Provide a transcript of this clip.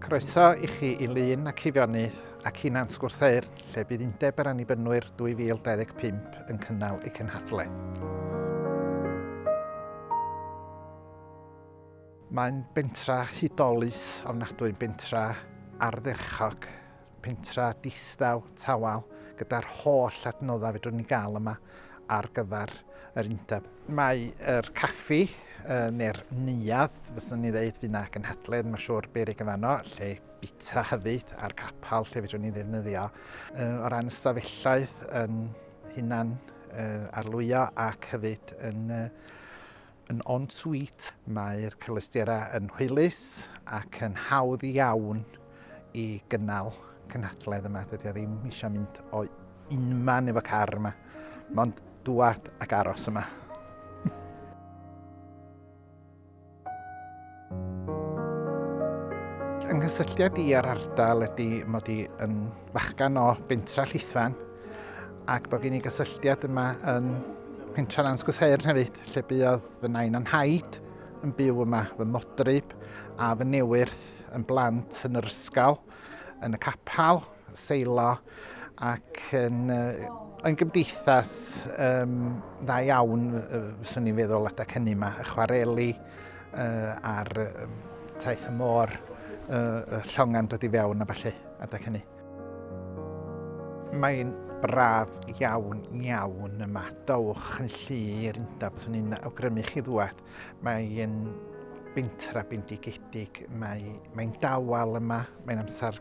Croeso i chi i Lyn ac Hifionydd ac i Nant Gwrtheyrn, lle bydd Undeb yr Annibynwyr 2025 yn cynnal ei cenhadledd. Mae'n bentra hudolus ofnadwy, bentra ardderchog, pentra distaw, tawel, gyda'r holl adnoddau fedrwn ni gael yma ar gyfer yr undeb. Mae yr caffi, neu'r neuadd, fyswn ni ddeud, fydd na gynhadledd, mae'n siŵr berig yn fanno, lle bita hefyd, a'r capel lle fedrwn ni ddefnyddio. O ran ystafelloedd yn hunan arlwyo ac hefyd yn Yn en-suite, mae'r cyfleusterau yn hwylus ac yn hawdd iawn i gynnal cynhadledd yma. Dydy o ddim eisiau mynd o unman efo car yma, mond dŵad ac aros yma. Yng nghysylltiad i ar ardal ydy mod i yn fachgan o Bentra Llithfan ac bod gen i gysylltiad yma yn Pentra Nant Gwsheirn hefyd, lle buodd fy nain a'n haid yn byw yma, fy modryb a fy newyrth yn blant yn yr ysgol, yn y capel, seilo ac yn, yn gymdeithas um, dda iawn, fyswn i'n feddwl, adeg hynny yma, y chwareli uh, a'r um, taith y môr, uh, llongan dod i fewn a falle adeg hynny. Mae'n braf iawn, iawn yma. Dowch yn llu i'r undeb, fyswn i'n awgrymu chi ddwad. Mae'n bentra bendigedig, mae'n mae dawel yma, mae'n amser